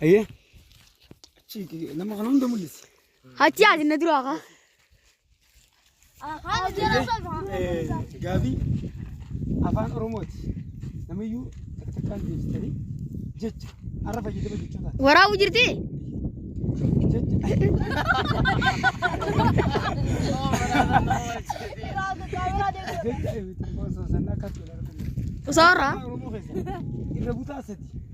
Ayyee. Achi nama kana hunda mul'isi. Achi ati na duraa kaa. Gaafii afaan Oromooti. Namiyyuu takka takkaan deebistanii jecha har'a fayyadama jechootaa. Waraabuu jirti? Jecha eebitti osoo sanna akka turan. Osoo irraa. Oromoo keessa irra butaa sadi.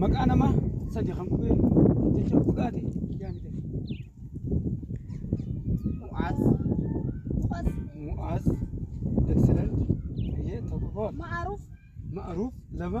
Maqaa namaa sadi kan qubee jecha hudhaa ta'e yaamite. Mu'aaz. Mu'aaz. Mu'aaz. Excellent. Ayyee tokko koo. Ma'aruuf. Ma'aruuf lama.